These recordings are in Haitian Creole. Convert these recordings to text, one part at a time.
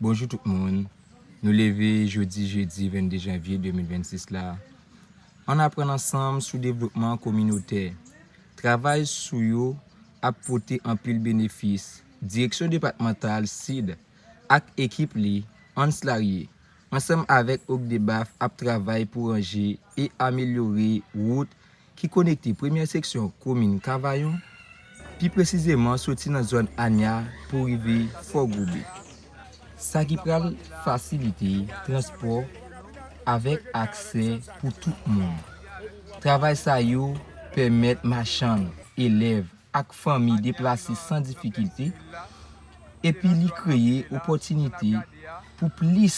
Bonjou tout moun, nou leve jodi jedi 22 janvye 2026 la, ann aprann ansanm sou devlopman kominotè, travay sou yo ap pote anpil benefis, direksyon depatmantal sid ak ekip li, Hans Larrier, ansanm avèk OCDBAF ap travay pou ranje e amelyore wout ki konekte premyè seksyon komin Kavayon, pi presizeman soti nan zòn Anya pou rive Fò Goube, sa ki pral fasilite transpò avèk aksè pou tout moun. Travay sa yo pèmèt machann, elèv ak fanmi deplase san difikilte, epi li kreye opòtinite pou plis.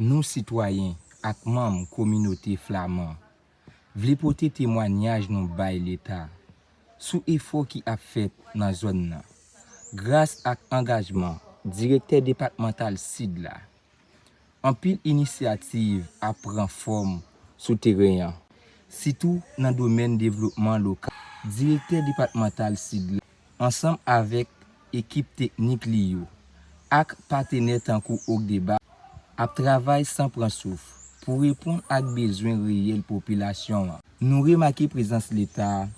Nou sitwayen ak manm kominote flaman vle pote temwanyaj nou bay leta sou efò ki ap fèt nan zòn nan gras ak angajman direktè depatmantal sid la. Anpil inisyativ ap pran fòm sou teren an, sitou nan domèn devlopman lokal. Direktè depatmantal Sid la, ansanm avèk ekip teknik li yo ak patenè tankou OCDEBA, ap travay san pran souf pou reponn ak bezwen reyèl popilasyon an. Nou remake prezans Leta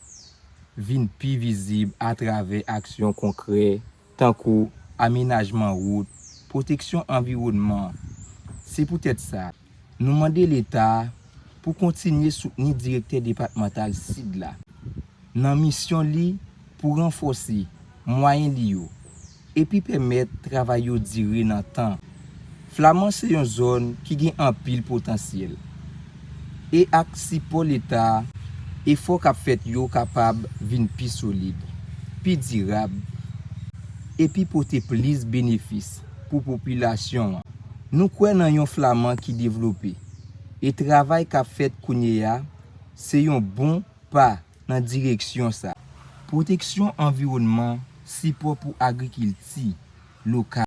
vin pi vizib atravè aksyon konkrè tankou amenajman wout, pwoteksyon anviwònman. Se poutèt sa, nou mande Leta a pou kontinye soutni Direktè Depatmantal Sid la nan misyon li pou ranfòse mwayen li yo epi pèmèt travay yo dire nan tan. Flaman se yon zòn ki gen anpil potansyèl, e ak sipò Leta, efò k ap fèt yo kapab vin pi solid, pi dirab, epi pote plis benefis pou popilasyon an. Nou kwè nan yon Flaman ki devlope, e travay k ap fèt kounye a se yon bon pa nan direksyon sa. Pwoteksyon anviwònman, sipò pou agrikilti lokal.